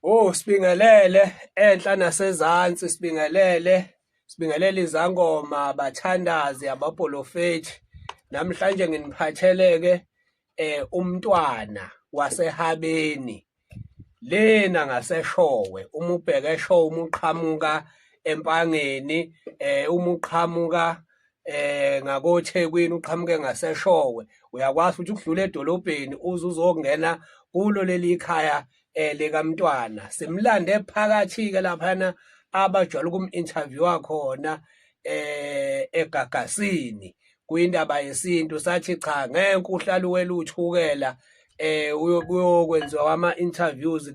Oh sibingelele enhla nasezantsi sibingelele sibingelele izangoma abathandazi abapolofethi namhlanje nginiphatheleke eh umntwana wasehabeni lena ngaseshowe uma ubheke eshowe uma uqhamuka empangeni eh uma uqhamuka eh ngakoThekwini uqhamuke ngaseshowe uyakwazi ukuthi ukudlula edolobheni uze uzongena kulo leli khaya eh likamntwana simlande phakathi ke laphana abajwayele ukum-interviewa khona eh egagasini kuyindaba yesintu sathi cha ngeke uhlalu weluthukela eh uyokwenziwa kwama interviews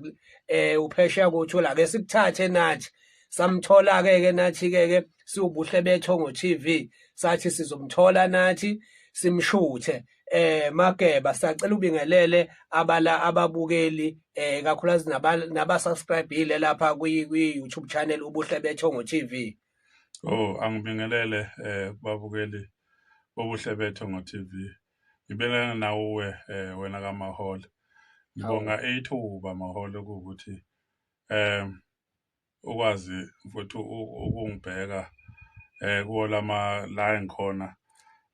eh uphesheya kothola ke sikuthathe nathi samthola ke ke nathi ke ke siwubuhle bethongo TV sathi sizomthola nathi simshuthe eh mageba sacela ubingelele abala ababukeli eh kakhulukazi naba subscribeile lapha kwi YouTube channel ubuhle bethongo TV oh angibingelele eh babukeli bobuhle bethongo TV ngibelana nawe eh wena kamaholo ngibonga ithuba maholo ukuthi eh ukwazi mfowethu u- ukungibheka eh kuwo lama la engikhona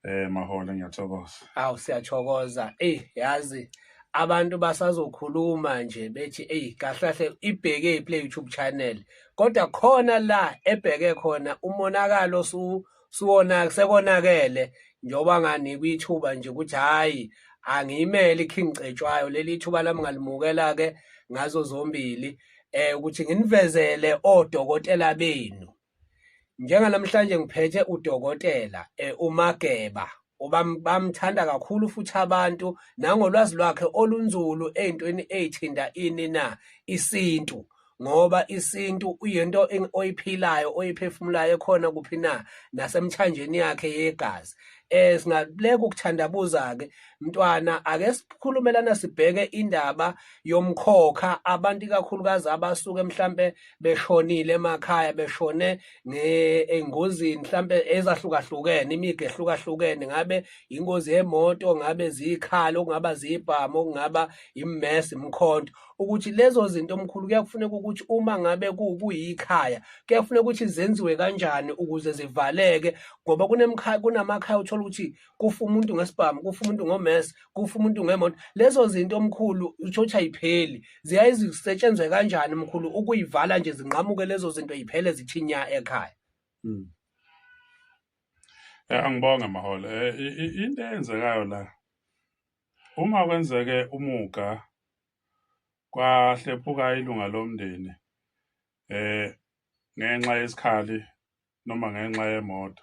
eh mahole ngiyathokoza Awu siyathokoza. Ey yazi abantu basazokhuluma nje bethi ey kahlahle ibheke iPlay YouTube channel. Kodwa khona la ebheke khona umonakalo su siwona sekonakele njengoba nganikwa ithuba nje ukuthi hhayi angiyimeli iking cetshwayo leli thuba lami ngalimukela-ke ngazo zombili um ukuthi nginivezele odokotela benu njenganamhlanje ngiphethe udokotela um umageba bamthanda kakhulu futhi abantu nangolwazi lwakhe olunzulu ey'ntweni ey'thinta ini na isintu ngoba isintu uyinto oyiphilayo oyiphefumulayo ekhona kuphi na nasemthanjeni yakhe yegazi eh singakuleka ukuthandabuza ke mntwana ake sikhulumelana sibheke indaba yomkhokha abantu ikakhulukazi abasuke mhlambe beshonile emakhaya beshone engozini mhlambe ezahlukahlukene imiga ehlukahlukene ngabe ingozi yemoto ngabe zikhalo okungaba zibhamu okungaba immess imkhonto ukuthi lezo zinto omkhulu kuyakufuneka ukuthi uma ngabe kuyikhaya kuyakufuneka ukuthi zenziwe kanjani ukuze zivaleke ngoba kunamakhaya uthola ukuthi kufa umuntu ngesibhamu kufa umuntu ngomese kufa umuntu ngemoto lezo zinto omkhulu usho ukuthi ayipheli ziyaye zisetshenzwe kanjani mkhulu ukuyivala nje zinqamuke lezo zinto yiphele zithinya ekhaya hmm. eh, angibonge maholo eh, into eyenzekayo la uma kwenzeke umuga kwahlephuka ilunga lomndeni eh ngenxa yesikhali noma ngenxa yemoto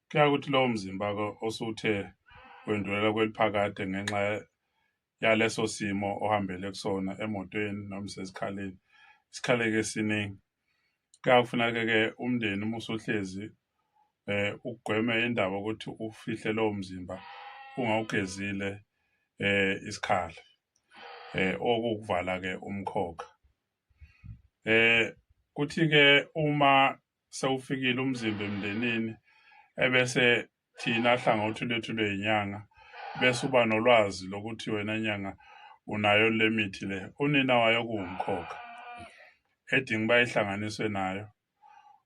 Kuyaye ukuthi lowo mzimba osuthe wendlulela kweliphakade ngenxa yaleso simo ohambele kusona emotweni noma sesikhaleni isikhaleke esiningi kuyakufuneka-ke umndeni uma usuhlezi eh ugweme indaba ukuthi ufihle lowo mzimba ungawugezile eh isikhala eh okukuvala ke umkhokha eh kuthi ke uma sewufikile umzimba emndenini ebese thina hlangothi lwethu lweyinyanga bese uba nolwazi lokuthi wena nyanga unayo le mithi le unina wayo kuwumkhokha edinga uba ihlanganiswe nayo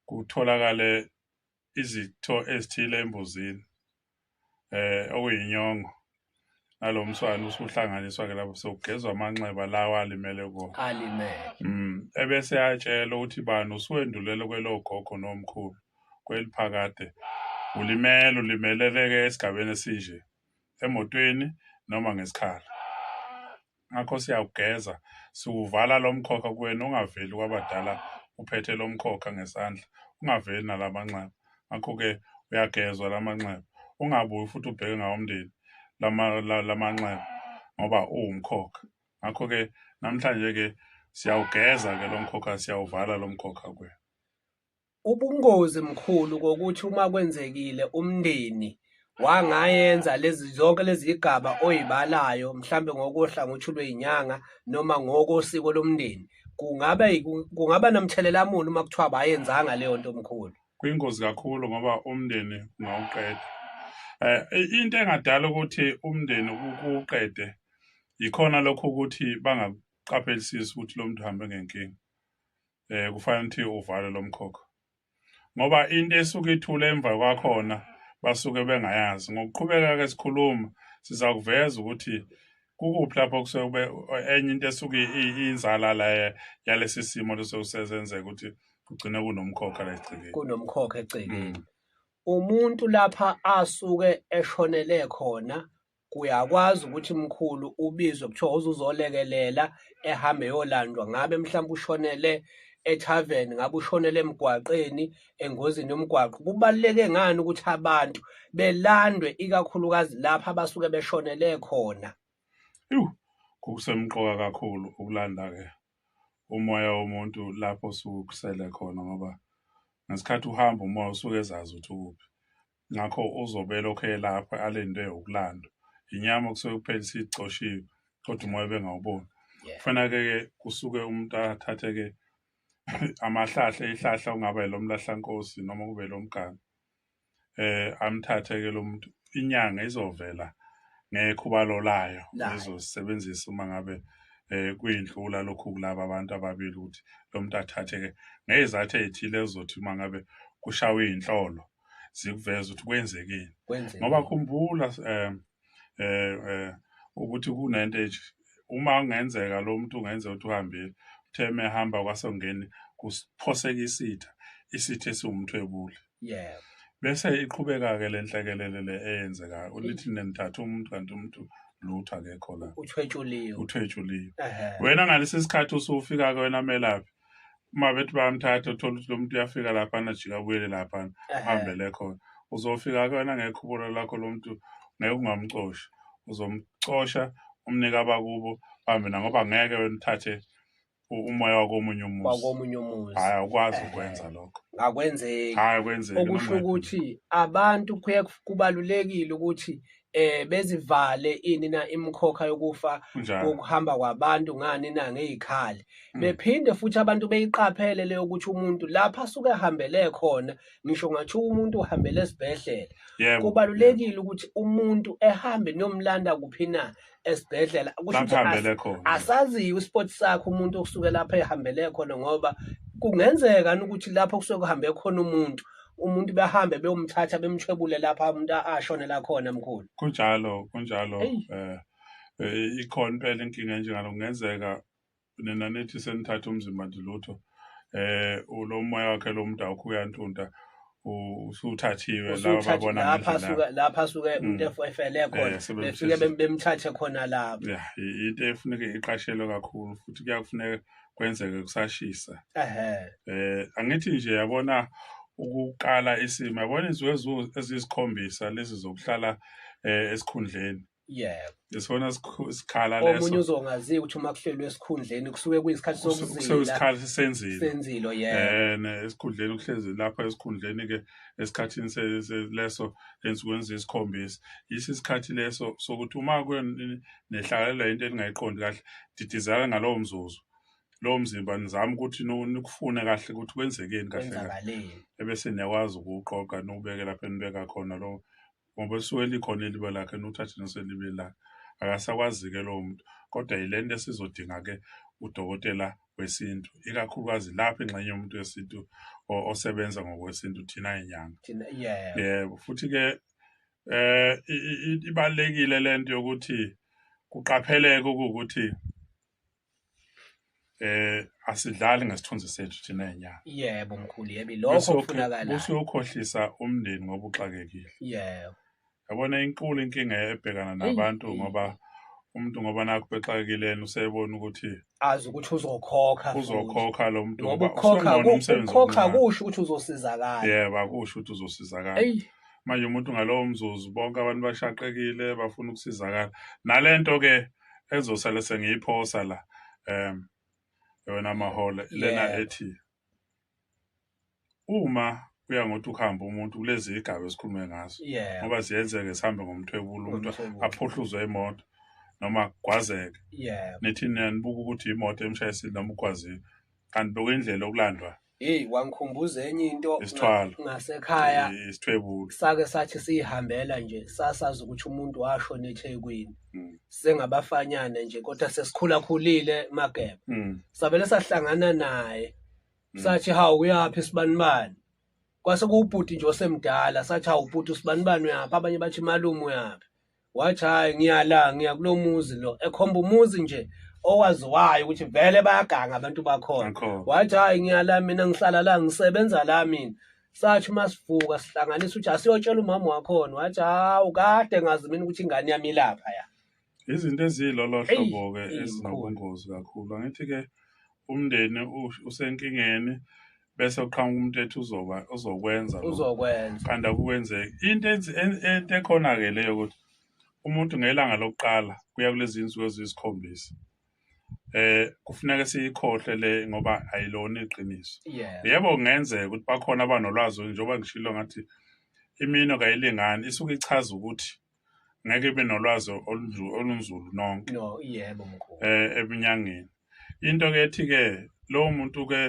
kutholakale izitho ezithile embuzini eh okuyinyongo nalomswana usuhlanganiswa ke lapho sokugezwa amanxeba lawa alimele kuwo alimele mm ebese yatshela ukuthi bani usuwendulele kwelogogo nomkhulu kweliphakade ulimele ulimeleleke esigabeni esinje emotweni noma ngesikhala ngakho siyawugeza siwuvala lo mkhokha kuwena ungaveli kwabadala uphethe lo mkhokha ngesandla ungaveli nala manxeba ngakho-ke uyagezwa la manxeba ungabuyi futhi ubheke ngawo umndeni la manxeba ngoba uwumkhokha ngakho-ke namhlanje-ke siyawugeza-ke lo mkhokha siyawuvala lo mkhokha kuwena Ubungozi mkhulu kokuthi uma kwenzekile umndeni wangayenza lezi zonke lezi zigaba oyibalayo mhlambe ngokohlangothi lwezinyanga noma ngokosiko lomndeni kungaba kungaba namthelela muni uma kuthiwa bayenzanga leyo nto omkhulu kuyingozi kakhulu ngoba umndeni ungawuqeda eh into engadala ukuthi umndeni ukuqede yikhona lokho ukuthi bangaqaphelisisi ukuthi lo muntu uhambe ngenkinga eh kufanele ukuthi uvale lo mkhokha ngoba into esuke ithule emva kwakhona basuke bengayazi ngokuqhubeka ke sikhuluma siza kuveza ukuthi kukuphi lapho kusuke enye into esuke inzala la yalesi simo lesokusenzeka ukuthi kugcine kunomkhokha la egcekeni kunomkhokha egcekeni mm. umuntu lapha asuke eshonele khona Uyakwazi ukuthi mkhulu ubizwe kuthiwa uzuzolekelela ehambe eyolandwa ngabe mhlawumbe ushonele ethavern ngabe ushonele emgwaqeni engozini yomgwaqo kubaluleke ngani ukuthi abantu belandwe ikakhulukazi lapha abasuke beshonele khona Ewu, kusemqoka kakhulu ukulanda-ke umoya womuntu lapho osuke ukusele khona ngoba ngesikhathi uhamba umoya usuke ezazi ukuthi ukuphi. ngakho uzobe elokhu elapho alinde ukulandwa inyama kusuke kuphela isicoshiwe kodwa umoya bengawuboni kufanele ke kusuke umuntu athathe ke amahlahla ihlahla ungaba elomlahlankosi noma kube lomganga eh amthathe ke lo muntu inyanga izovela ngekhubalo layo izosebenzisa uma ngabe eh kuyindlula lokhu kulaba abantu ababili ukuthi lo muntu athathe ke ngezathu ezithile ezothi uma ngabe kushawa izinhlolo zikuveza ukuthi kwenzekeni ngoba khumbula um um ukuthi kunento enje uma kungenzeka lo muntu ungenzeka ukuthi uhambile uthe mehamba kwasongeni kuphoseka isitha isitha esiwumthwebuli yebo bese iqhubeka-ke le nhlekelele le eyenzekayo ulithi nenithatha umuntu kanti umuntu lutho akekho la uthwetshuliwe uthwetshuliwe wena ngalesi sikhathi usufika-ke wena melaphi uma bethi bayamthatha uthole ukuthi lo muntu uyafika laphana ajika abuyele laphana uhambele khona uzofika kuyona ngekhubula lakho lo muntu ngeke ungamcosha uzomcosha umnike abakubo hambe na ngoba ngeke wena uthathe umoya wakomunye umuzi wakomunye umuzi hayi awukwazi eh, ukwenza lokho akwenzeki hayi akwenzeki okusho ukuthi abantu kuye kubalulekile ukuthi eh bezivale ini na imkhokha yokufa Kunjalo. kokuhamba kwabantu ngani na ngezikhali Mm. bephinde futhi abantu beyiqaphele leyo ukuthi umuntu lapha asuke ehambele khona ngisho ngathiwa umuntu uhambele esibhedlela Yebo. kubalulekile ukuthi umuntu ehambe nomlanda kuphi na esibhedlela kusho ukuthi Bahambele as- khona. asaziyo isport sakhe umuntu okusuke lapha ehambele khona ngoba kungenzeka ukuthi lapho kusuke kuhambe khona umuntu umuntu behambe beyomthatha bemthwebule lapha umuntu ashonela khona mkhulu kunjalo kunjalo Eyi. eh eh, ikhona impela inkinga enjengalo kungenzeka nina nithi senithatha umzimba nje lutho eh lo moya wakhe lo muntu awukho uyantunta usuthathiwe laba babona lapha suka lapha suka mm. umuntu efele eh, khona befike bemthathe khona lapha yeah into efuneka iqashelwe kakhulu futhi kuyakufuneka kwenzeke kusashisa ehe eh angithi nje yabona ukuqala isimo yabona izinto ezisikhombisa lezi zokuhlala eh, esikhundleni yebo lesona sikhu- sikhala omunye leso uzongaziyo ukuthi uma kuhlelwe esikhundleni kusuke kuyisikhathi sokuzila sekuyisikhala sisenzile senzilo yebo Eh, ne esikhundleni uhlezi lapha esikhundleni ke esikhathini se- se- leso ensukwini zesikhombisa yisi isikhathi leso sokuthi uma kwen- nehlakalela into eningayiqondi kahle didizela ngalowo mzuzu lowo mzimba nizama ukuthi nu- nikufune kahle ukuthi kwenzekeni kahle kahle kwenzakaleni ebese niyakwazi ukuwuqoqa niwubeke lapho enibeka khona lo ngoba esuke likhona iliba lakhe nuthathe noselibe lakhe akasakwazike lowo muntu kodwa yile nto esizodinga ke udokotela wesintu ikakhulukazi lapha ingxenye yomuntu wesintu osebenza ngokwesintu thina inyanga yebo futhi ke eh ibalekile lento yokuthi kuqapheleke ukuthi eh asidlali ngesithunzi sethu thina enyanga yebo mkhulu yebi lokho kufunakala usuyokhohlisa umndeni ngoba uxakekile yebo yabona inkulu inkinga ebhekana nabantu ngoba umuntu ngoba nakho bexakekile usebona ukuthi azi ukuthi uzokhokha uzokhokha lo muntu ngoba ukhokha ukhokha kusho ukuthi uzosizakala yebo akusho ukuthi uzosizakala manje umuntu ngalowo mzuzu bonke abantu bashaqekile bafuna ukusizakala nalento ke ezosala sengiyiphosa la um yona mahole lena Yeah. ethi uma kuya ngokuthi ukuhamba umuntu kulezi igaba esikhulume ngazo yeah ngoba ziyenzeke sihambe ngomthwebulo umuntu Ngomthwebulo. aphuhluzwe imoto noma kugwazeke yeah nithi niyanibuka ukuthi imoto emshayisile noma ugwazile kanti bekuyindlela okulandwa Hey wangikhumbuza enye into Isithwalo. ngasekhaya isithwebulo sake sathi siyihambela nje sasazi ukuthi umuntu washona eThekwini Mm. sengabafanyana nje kodwa sesikhulakhulile mageba Mm. savele sahlangana naye Mm. sathi hawu uyaphi sibanibani kwase kuwubhuti nje osemdala sathi hawu bhuti usibanibani uyaphi abanye bathi malume uyaphi wathi hhayi ngiyala ngiya kulo muzi lo ekhomba umuzi nje owaziwayo ukuthi vele bayaganga abantu bakhona wathi hhayi ngiyala mina ngihlala la ngisebenza la mina sathi uma sivuka sihlanganisa ukuthi asiyotshela umama wakhona wathi hawu kade ngazi mina ukuthi ingane yami ilapha ya izinto eziyilolo hlobo-ke ezinobungozi kakhulu angithi-ke umndeni usenkingeni bese uqhamuka umuntu ethi uzoba uzokwenza uzokwenza kanti akukwenzeki into into ekhona ke leyo ukuthi umuntu ngelanga lokuqala kuya kulezi insuku eziyisikhombisa eh kufuneka siyikhohle le ngoba ayilona iqiniso yebo kungenzeka ukuthi bakhona abanolwazi njengoba ngishilo ngathi imino kayilingani isuke ichaza ukuthi ngeke ibe nolwazi olunju- olunzulu nonke no yebo mkhulu eh ebunyangeni into ke ethi ke lowo muntu ke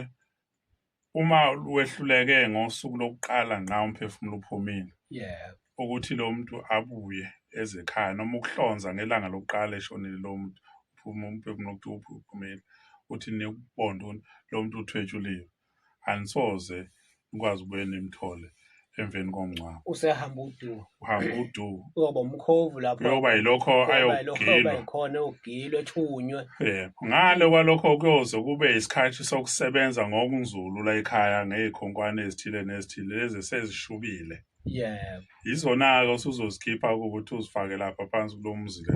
uma wehluleke ngosuku lokuqala nqa umphefumulo uphumile yebo ukuthi lo muntu abuye ezekhaya noma ukuhlonza ngelanga lokuqala eshonile lo muntu uphuma umphefumulo ukuthi uphu- uphumile uthi nikubonda ukuthi lo muntu uthwetshuliwe anisoze nikwazi ukubuye nimthole emveni komngcwabo usehamba udu uhamba udu uyoba umkhovu lapho uyoba yilokho ayogilwa khona eyogilwa ethunywe yebo ngale kwalokho kuyoze kube isikhathi sokusebenza ngokunzulu la ekhaya ngey'khonkwane ezithile nezithile lezi sezishubile yebo yizona-ke usuzozikhipha ukuthi uzifake lapha phansi kulo mzi le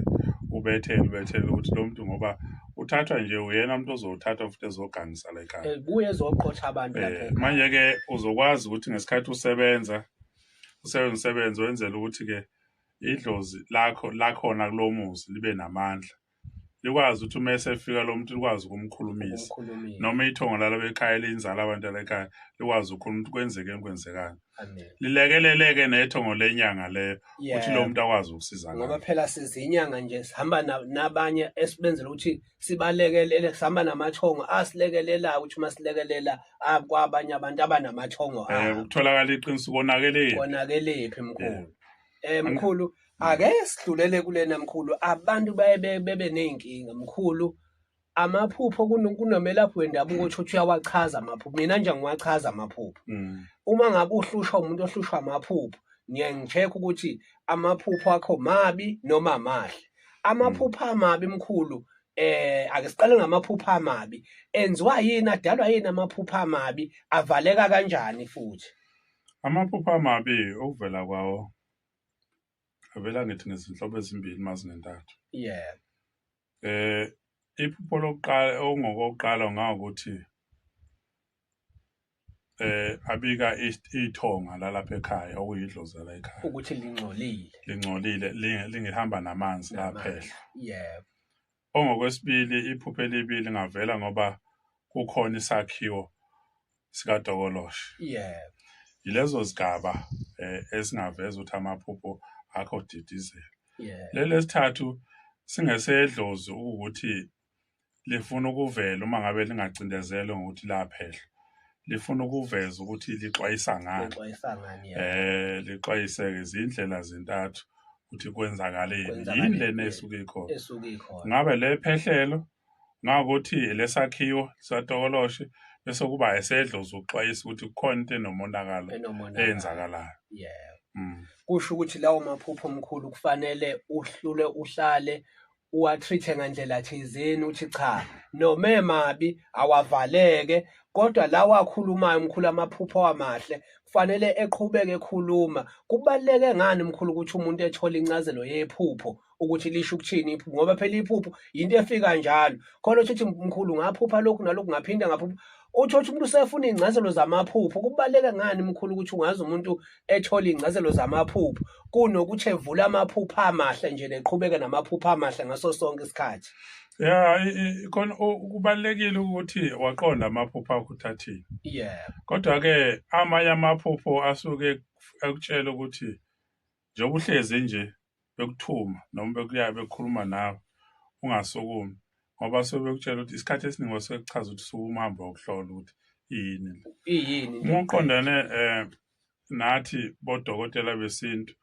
ubethele ubethele ukuthi lo muntu ngoba uthathwa nje uyena umuntu ozowuthatha futhi ezogangisa la ekhaya Eh, buye ezoqotha abantu lapha Eh, ekhaya. manje-ke uzokwazi ukuthi ngesikhathi usebenza usebenza umsebenzi wenzela ukuthi-ke idlozi lakho lakhona kulo muzi libe namandla likwazi ukuthi uma esefika lo muntu likwazi ukumkhulumisa noma ithongo lalo bekhaya liyinzala abantu alekhaya likwazi ukukhuluma ukuthi kwenzeke enkwenzekani lilekeleleke nethongo lenyanga leyo ukuthi lo muntu akwazi ukusizakala ngoba phela sizinyanga nje sihamba nabanye esibenzela ukuthi sibalekelele sihamba namathongo asilekelelayo ukuthi uma silekelela akwabanye abantu abanamathongo um ukutholakala iqiniso konakeleni konakelephi mkhulu Eh mkhulu ake sidlulele kulena mkhulu abantu baye bebe nezinkinga mkhulu amaphupho kunomelaphi wendabuko ukuthi uthi uyawachaza amaphupho mina nje ngiwachaza amaphupho mm. uma ngabe uhlushwa umuntu ohlushwa amaphupho ngiye ngicheck ukuthi amaphupho akho mabi noma amahle amaphupho amabi mkhulu eh ake siqale ngamaphupho amabi enziwa yini adalwa yini amaphupho amabi avaleka kanjani futhi Amaphupho amabi okuvela kwawo avela ngithi ngezinhlobo ezimbili mazingentathu. Yeah. Eh iphupho lokuqala ongokokuqala ngawukuthi eh abika ithonga lalapha ekhaya okuyidlozi la ekhaya ukuthi lingcolile lingcolile lingihamba namanzi laphehla yebo Ongokwesibili iphupho elibi lingavela ngoba kukhona isakhiwo sikadokoloshe. Yeah. Yilezo zigaba eh, esingaveza ukuthi amaphupho akho didizela. Yeah. Leli esithathu singesedlozi ukuthi lifuna ukuvela uma ngabe lingacindezelwe ngokuthi laphehlwa. lifuna ukuveza ukuthi lixwayisa ngani Lixwayisa ngani ya? eh lixwayise izindlela zintathu ukuthi kwenzakaleni Kwenzakaleni, yini lena yeah. esuke ikhona Esuke ikhona. ngabe le phehlelo ngakuthi lesakhiwo satokoloshe bese kuba esedlozi ukuxwayisa ukuthi kukhona into enomonakalo Enomonakalo. eyenzakalayo Yeah. mm. kusho ukuthi lawo maphupho omkhulu kufanele uhlule uhlale uwatreat-e ngandlela thizeni uthi cha noma emabi awavaleke kodwa lawa akhulumayo mkhulu amaphupho amahle kufanele eqhubeke ekhuluma kubaluleke ngani mkhulu ukuthi umuntu ethole incazelo yephupho ukuthi lisho ukuthini iphupho ngoba phela iphupho yinto efika njalo khona uthi mkhulu ngaphupha lokhu nalokhu ngaphinde ngaphupha uthi uthi umuntu usefuna ingcazelo zamaphupho kubaluleke ngani mkhulu ukuthi ungazi umuntu ethola ingcazelo zamaphupho kunokuthi evula amaphupha amahle nje neqhubeke namaphupha amahle ngaso sonke isikhathi ya khona kubalekile ukuthi waqonda amaphupho akho uthathile yeah kodwa ke amanye amaphupho asuke ekutshela ukuthi njengoba uhlezi nje bekuthuma noma bekuya bekhuluma nawe ungasukumi ngoba suke bekutshela ukuthi isikhathi esiningi basuke kuchaza ukuthi suke umhambe wokuhlola ukuthi yini le iyini uma uqondane um nathi bodokotela besintu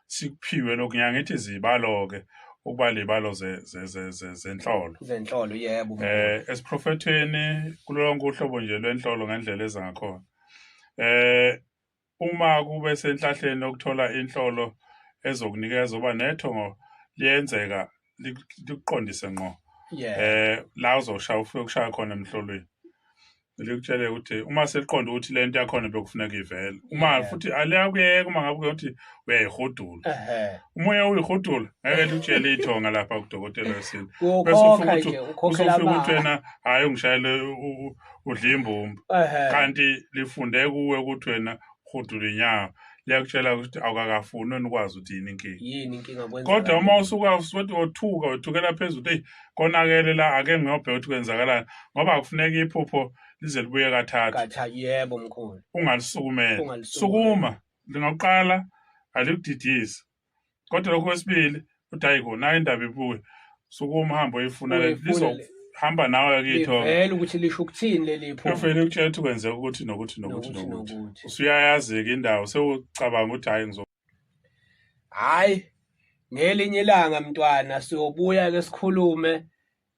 sikuphiwe lokhu ngiyangithi zibalo-ke ukuba ley'balo ze- ze- ze- ze- zenhlolo zenhlolo yebo um esiprofethweni kulo lonke uhlobo nje lwenhlolo ngendlela eza ngakhona um Uma kube senhlahleni lokuthola inhlolo ezokunikeza uba nethongo liyenzeka likuqondise ngqo eh la uzoshaya ufike ukushaya khona emhlolweni likutshele ukuthi uma seliqonda ukuthi lento yakhona bekufuneka ivele uma futhi aliyakuyeka uma ngabe ukuthi uyayihudula umoya uyihudula ngeke likutshele ithonga lapha kudokotela wesintu bese ufika ukuthi usufika ukuthi wena hhayi ungishayele udla imbumba Ehhe. kanti lifunde kuwe ukuthi wena hudula inyawo liyakutshela ukuthi awukakafuni wena ukwazi ukuthi yini inkinga yini inkinga kwenza kodwa uma usuka usuthi othuka othukela phezulu ukuthi eyi konakele la ake ngiyobheka ukuthi kwenzakalani ngoba akufuneka iphupho lize libuye kathathu katha yebo mkhulu ungalisukumela Ungalisukumela. sukuma lingakuqala alikudidisi kodwa lokho kwesibili uthi hayi kona hayi indaba ibuye suke umhambo oyifuna lizohamba nawe kitho vele ukuthi lisho ukuthini leli pho ufele ukutshela ukuthi kwenzeka ukuthi nokuthi nokuthi nokuthi usuyayazi-ke indawo sewucabanga ukuthi hayi ngizo hayi ngelinye ilanga mntwana siyobuya ke sikhulume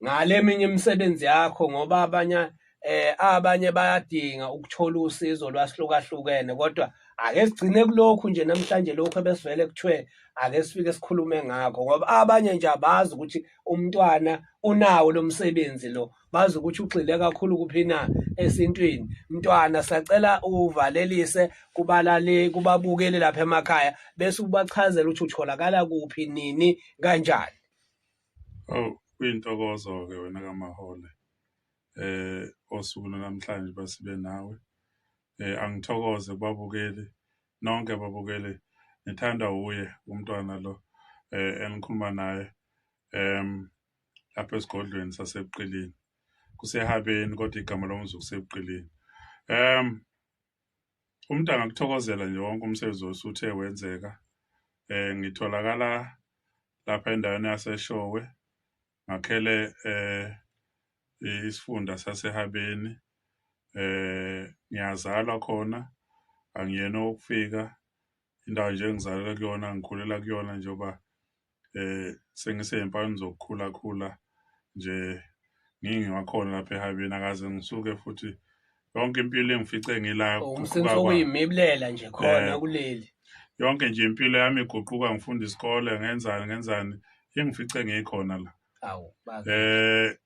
ngale eminye imisebenzi yakho ngoba abanye eh abanye bayadinga ukuthola usizo lwasihlukahlukene kodwa ake sigcine kulokhu nje namhlanje lokhu ebesivele kuthiwe ake sifike sikhulume ngakho ngoba abanye nje abazi ukuthi umntwana unawo lo msebenzi lo bazi ukuthi ugxile kakhulu kuphi na esintwini mntwana sacela uvalelise kubalale kubabukeli lapha emakhaya bese ubachazela ukuthi utholakala kuphi nini kanjani Awu kuyintokozo-ke wena kaMahole eh osuku namhlanje basibe nawe eh angithokoze kubabukeli nonke ababukeli ngithanda uye umntwana lo eh engikhuluma naye em lapha esigodlweni sasebuqilini kusehabeni kodwa igama lomzuku kusebuqilini em Umuntu angakuthokozela nje wonke umsebenzi osuthe wenzeka. Eh ngitholakala lapha endaweni yaseShowe ngakhele eh isifunda saseHabeni eh ngiyazalwa khona angiyena ukufika indawo nje engizalelwe kuyona ngikhulela kuyona njengoba eh sengiseyimpanini zokukhula khula nje ngingiwakhona lapha ehabeni akaze ngisuke futhi yonke impilo engifice ngila umsebenzi okuyimibulela nje khona eh, kuleli yonke nje impilo yami iguquka ngifunda isikole ngenzani ngenzani engifice ngikhona la awu eh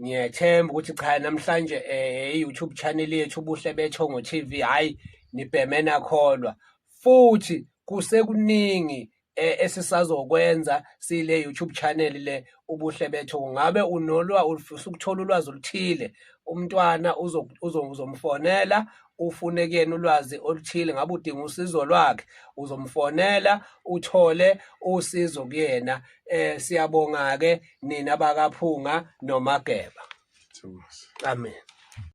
ngiyethemba ukuthi cha namhlanje eh, i-youtube channel yethu ubuhle bethongo tv hhayi nibheme nakholwa futhi kusekuningi eh, esisazokwenza sile youtube channel le ubuhle bethu ngabe unolwa usukuthola ulwazi oluthile umntwana uzomfonela ufune kuyena ulwazi oluthile ngabe udinga usizo lwakhe uzomfonela uthole usizo kuyena eh siyabonga ke nina bakaphunga nomageba amen